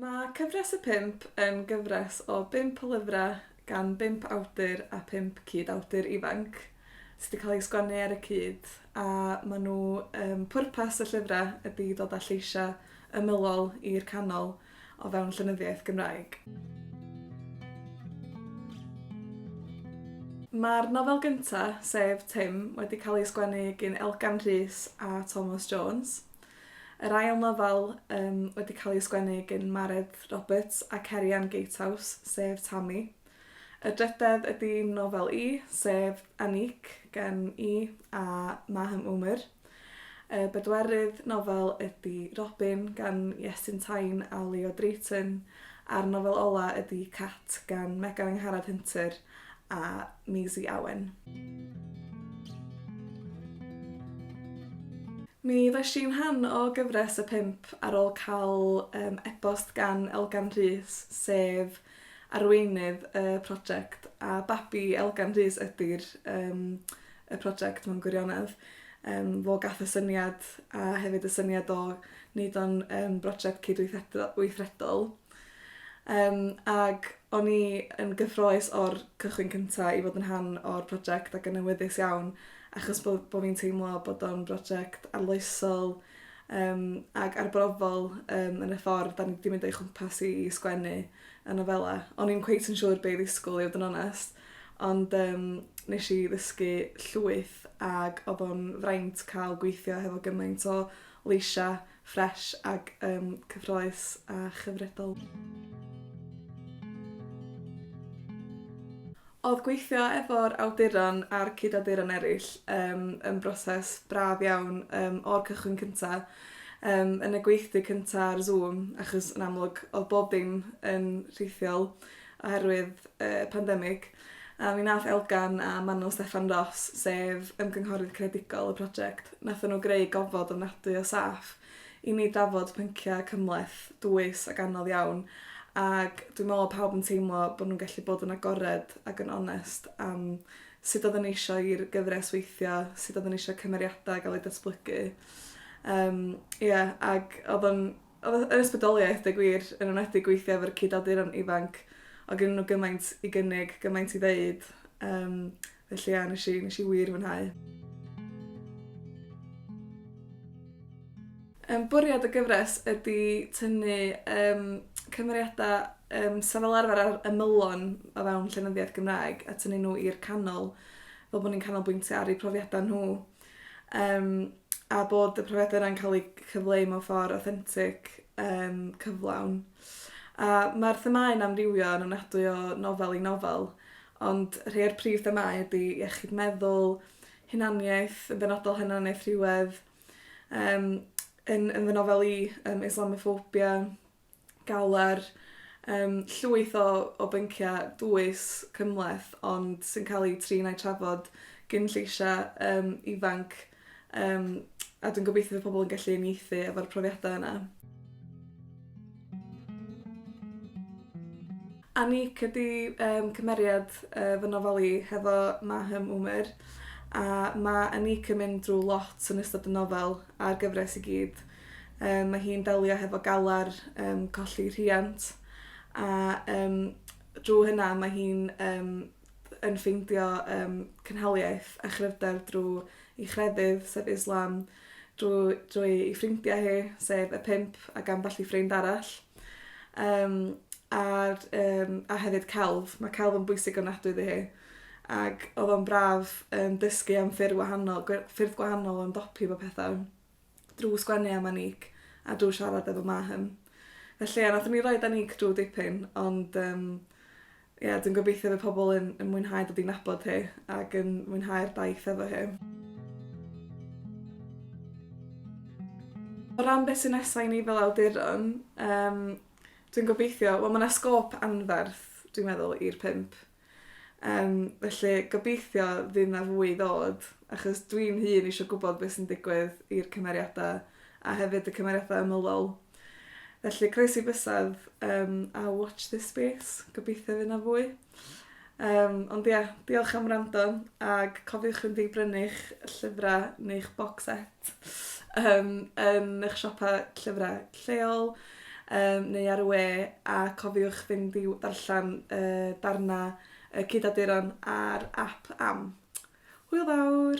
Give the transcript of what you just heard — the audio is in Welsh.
Mae Cyfres y Pump yn gyfres o bump o lyfrau gan bump awdur a phump cyd-awdur ifanc sydd wedi cael eu sgwennu ar y cyd a maen nhw... pwrpas y llyfrau ydy dod â lleisiau ymylol i'r canol o fewn llenyddiaeth Gymraeg. Mae'r nofel gyntaf, sef Tim, wedi cael ei sgwennu gin Elgan Rhys a Tomos Jones. Yr ail nofel um, wedi cael ei sgwennu gin Mared Roberts a Cerian Gatehouse, sef Tammy. Y drydedd ydy nofel i, sef Anik, gen i a Maham Umar. Y bedwerydd nofel ydy Robin gan Iestyn Tyne a Leo Drayton, a'r nofel ola' ydy Cat gan Megan Angharad Hunter a Maisie Owen. Mi ddoes i'n rhan o gyfres y pump ar ôl cael yym e-bost gan Elgan Rhys sef Arweinydd y prosiect a babi Elgan Rhys ydy'r yym y prosiect mewn gwirionedd. Yym fo gath y syniad a hefyd y syniad o neud o'n yn brosiect cydweithredo- weithredol. Yym ag o'n i yn gyffroes o'r cychwyn cynta i fod yn rhan o'r prosiect ac yn awyddus iawn achos bo' bo' fi'n teimlo bod o'n brosiect arloesol, Yym, ag arbrofol yym yn y ffordd 'dan ni 'di mynd o'i chwmpas i i sgwennu y nofela. O'n i'm cweit yn siŵr be' i ddisgwl i fod yn onest ond yym nesh i ddysgu llwyth ag odd o'n fraint ca'l gweithio hefo gymaint o leisia' ffresh ag yym cyffrous a chyfredol. Oedd gweithio efo'r awduron a'r cyd-awduron eraill yym yn broses braf iawn yym o'r cychwyn cynta'. Yym yn y gweithdy cynta' ar Zoom achos yn amlwg oedd bob dim yn rhithiol oherwydd y pandemig a mi nath Elgan a Manon Steffan Ros sef ymgynghorydd creadigol y project nathon nhw greu gofod ofnadwy o saff i ni drafod pynciau cymhleth, dwys ac anodd iawn, ac dwi'n meddwl pawb yn teimlo bod nhw'n gallu bod yn agored ac yn onest am sut oedden nhw eisiau i'r gyfres weithio, sut oedden nhw eisiau cymeriadau gael eu datblygu. Um, yeah, ac oedd o'n oedd yr ysbrydoliaeth, deg wir, yn enwedig gweithio efo'r cyd-awduron ifanc, o gen nhw gymaint i gynnig, gymaint i ddeud, um, Felly ia, nes i, nes i wir fwynhau. Um, bwriad y gyfres ydy tynnu um, cymeriadau um, sy'n fel arfer ar ymylon o fewn llenyddiaeth Gymraeg a tynnu nhw i'r canol fel bod ni'n canolbwyntio ar eu profiadau nhw um, a bod y profiadau yna'n cael eu cyfleu mewn ffordd authentic, um, cyflawn. A mae'r themau yn amrywio yn ofnadwy o nofel i nofel, Ond rhei o'r prif themâu ydy iechyd meddwl, hunaniaeth, yn benodol hunaniaeth rhywedd, um, yn, yn fy nofel i, um, Islamophobia, galar, um, llwyth o, o bynciau dwys cymleth ond sy'n cael eu trin a'i trafod gyn lleisiau um, ifanc Um, a dwi'n gobeithio fy pobl yn gallu unieithu efo'r profiadau yna. Anik ydy um, cymeriad uh, fy nofel i hefo Mahem Umer a mae Anik yn mynd drwy lot yn ystod y nofel a'r gyfres i gyd. Um, mae hi'n delio hefo galar um, colli rhiant a um, drwy hynna mae hi'n um, yn ffeindio yym cynhaliaeth a chryfder drw 'i chrefydd, sef Islam, drw- drwy 'i ffrindia hi, sef y pump ac ambell i ffrind arall. Yym a'r yym a hefyd celf, mae celf yn bwysig ofnadwy iddi hi. Ag o'dd o'n braf yn dysgu am ffyrdd wahanol gwe- ffyrdd gwahanol o ymdopi efo petha. drw sgwennu am Aniek a drw siarad efo Mahym. Felly ia nathon ni roid Aniek drw dipyn ond yym ia dwi'n gobeithio fy pobl yn yn mwynhau dod i nabod hi ag yn mwynhau'r daith efo hi. O ran beth sy nesa i ni fel awduron yym dwi'n gobeithio wel ma' 'na sgôp anferth dwi'n meddwl i'r pump Yym felly gobeithio fydd 'na fwy i ddod achos dwi'n hun isio gwbod be' sy'n digwydd i'r cymeriada a hefyd y cymeriada ymylol. Felly croesi bysedd yym a watch this space gobeithio fy' 'na fwy. Yym ond ia diolch am wrando ag cofiwch fynd i brynu'ch llyfra neu'ch bocsset. um, yn eich siopa llyfrau lleol um, neu ar y we a cofiwch fynd i ddarllen uh, darna uh, cydaduron ar app am. Hwyl fawr!